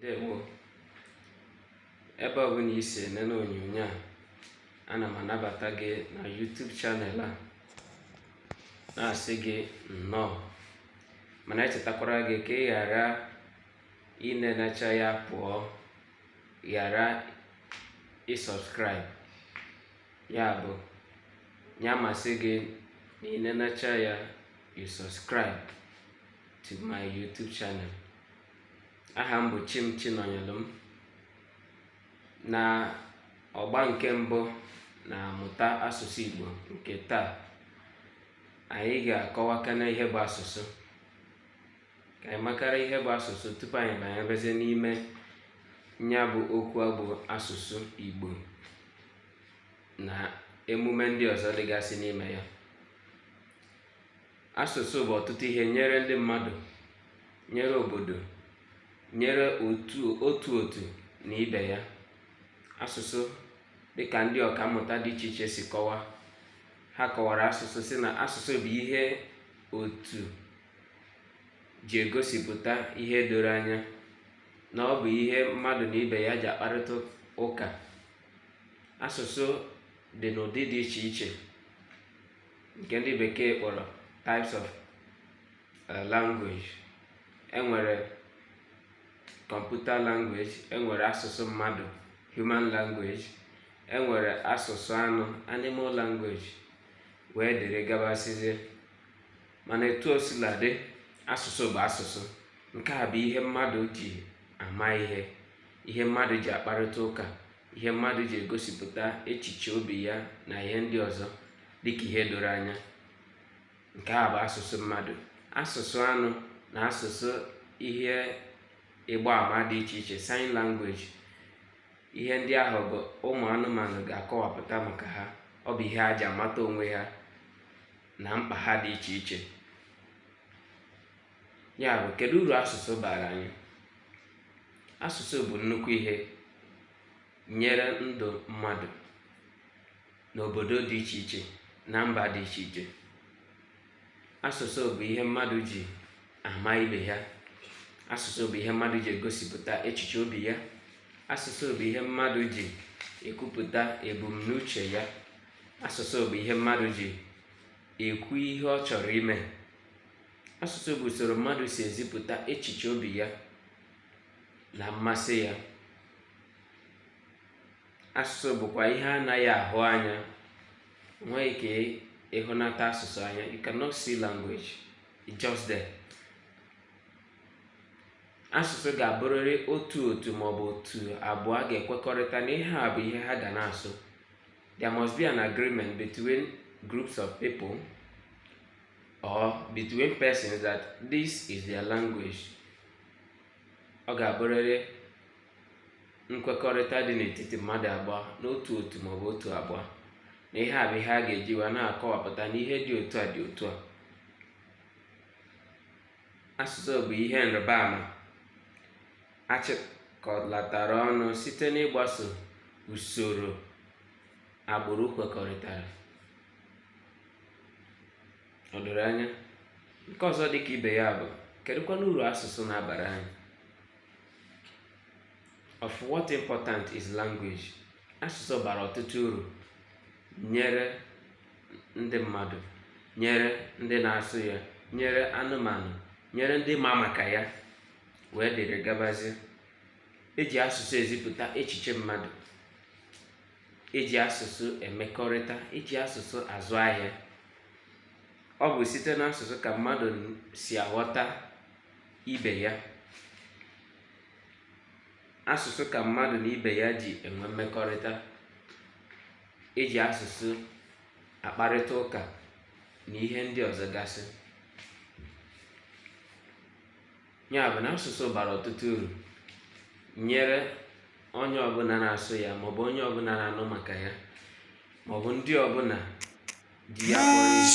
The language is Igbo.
ndewo ebe ọbụla i si enene onyonyo a ana m anabata gị na YouTube channel a na-asị gị nnọọ ma na-echetakwara gị ka ị ghara inenecha ya pụọ ghara ịsubscribe ya bụ ya masị gị na i nenechaa ya you subscribe to my YouTube channel aha m bụ Chim Chinọnyelụm na ọgba nke mbụ na mụta asụsụ Igbo nke taa anyị ga-akọwakana ihe bụ asụsụ ka anyị makara ihe bụ asụsụ tupu anyị banyebezie n'ime ya bụ okwu a bụ asụsụ Igbo na emume ndị ọzọ dịgasị n'ime ya Asụsụ bụ ọtụtụ ihe nyere ndị mmadụ, nyere obodo, nyere otu otu na ibe ya. Asụsụ dịka ndị ọkammụta dị iche iche si kọwaa, ha kọwara asụsụ sị na asụsụ bụ ihe otu ji egosipụta ihe doro anya na ọ bụ ihe mmadụ na ibe ya ji akparịta ụka. Asụsụ dị n'ụdị dị iche iche. nke ndị bekee kpọrọ types of uh, language e nwere computer language e nwere asụsụ mmadụ human language e nwere asụsụ anụ animal language wee dịrị gabasizie mana etu o sila dị asụsụ bụ asụsụ nke a bụ ihe mmadụ ji ama ihe ihe mmadụ ji akparịta ụka ihe mmadụ ji egosipụta echiche obi ya na ihe ndị ọzọ dịka ihe doro anya nke a bụ asụsụ mmadụ asụsụ anụ na asụsụ ihe ịgba ama dị iche iche sign language ihe ndị ahụ bụ ụmụ anụmanụ ga-akọwapụta maka ha ọ bụ ihe ha ji amata onwe ha na mkpa ha dị iche iche Ya bụ, kedu uru asụsụ baara anyị? Asụsụ bụ nnukwu ihe nyere ndụ mmadụ n'obodo dị iche iche na mba dị iche iche. Asụsụ bụ ihe mmadụ ji ama ibe ya. Asụsụ bụ ihe mmadụ ji egosipụta echiche obi ya. Asụsụ bụ ihe mmadụ ji ekwupụta ebumnuche ya. Asụsụ bụ ihe mmadụ ji ekwu ihe ọ chọrọ ime. Asụsụ bụ usoro mmadụ si ezipụta echiche obi ya na mmasị ya. Asụsụ bụkwa ihe anaghị ahụ anya. I nweghị ike ịhụnata asụsụ anya. You cannot see language. It's just there. Asụsụ ga-abụrịrị otu otu maọbụ otu abụọ ga-ekwekọrịta na ihe a bụ ihe ha ga na-asụ. There must be an agreement between groups of people or between persons that this is their language ọ ga-abụrịrị nkwekọrịta dị n'etiti mmadụ abụọ n'otu otu maọbụ otu abụọ na ihe a bụ ihe a ga-eji wee na-akọwapụta na ihe dị otu a dị otu a asụsụ bụ ihe nrịba ama achịkọlatara ọnụ site n'ịgbaso usoro agbụrụ kwekọrịtara o doro anya nke ọzọ dị ka ibe ya bụ kedụkwanụ uru asụsụ na-abara anyị of what important is language asụsụ bara ọtụtụ uru nyere ndị mmadụ nyere ndị na-asụ ya nyere anụmanụ nyere ndị ma maka ya wee dịrị gabazie eji asụsụ ezipụta echiche mmadụ eji asụsụ emekọrịta eji asụsụ azụ ahịa ọ bụ site n'asụsụ ka mmadụ si aghọta ibe ya asụsụ ka mmadụ na ibe ya ji enwe mmekọrịta eji asụsụ akparịta ụka na ihe ndị ọzọ gasị ya bụ na asụsụ bara ọtụtụ uru nyere onye ọbụla na-asụ ya maọbụ onye ọbụla na-anụ maka ya maọbụ ndị ọbụla ji ya kpọrọ